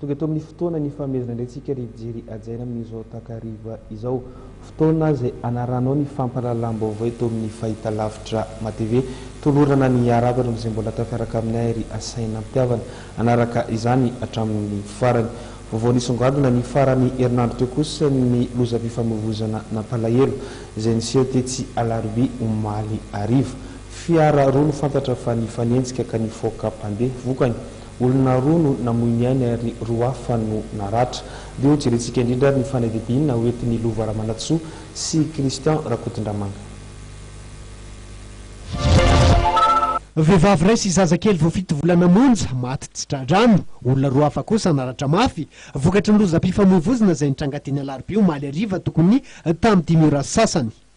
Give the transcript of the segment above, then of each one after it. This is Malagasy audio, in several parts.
Tonga eto amin'ny fotoana nifanomezana indray tsika ry Jery hajaina amin'izao takariva izao. Fotoana izay hanaranao ny fampahalalam-baovao eto amin'ny Fahitalavitra Matv. Tolorana ny haravotra amin'izay mbola atao miaraka aminay ry Asainampihavana hanaraka izany hatramin'ny farany. Vaovao nisongadina ny faran'ny herinandro teo kosa ny lozam-pifamoivoizana nampalahelo izay niseho tetsy Alarobia omaly hariva. Fiara roa no fantatra fa nifanenjika ka nifaoka mpandeha vokany. Olona roa no namoy ny ainy ary roa hafa no naratra. Dia ho jerentsika indrindra ary ny fanadihadiana ho entin'i Lova Ramanantsoa sy Christian Rakotondramanga. Vehivavy iray sy zaza kely vao fito volana monja maty tsy tra-drano. Olona roa hafa kosa naratra mafy vokatry ny lozam-pifamoivoizina izay nitranga teny Alarobia omaly hariva tokony tamin'ny dimy ora sy sasany.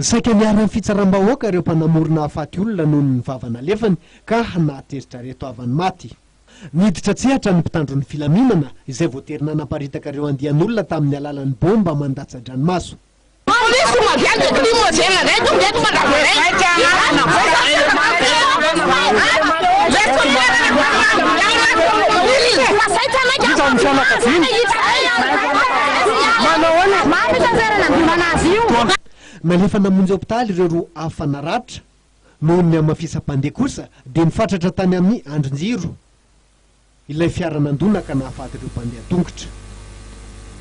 Saika niharan'ny fitsaram-bahoaka ireo mpanamory nahafaty olona noho ny vava nalefany ka nahateritrareto havan'ny maty. Niditra an-tsehatra ny mpitandro ny filaminana izay voatery nanaparitaka ireo andian'olona tamin'ny alalan'ny baomba mandatsa-dranomaso. Polisy Madianina Aty Mozena indray tonga eto fa lava indray ny fianakaviana. Manao ahoana? Taona. Nalefa namonjy hopitaly ireo roa hafa naratra noho ny hamafisam-pandeha kosa dia nifatratra tany amin'ny andrin-jiro ilay fiara nandona ka nahafaty ireo mpandeha an-tongotra.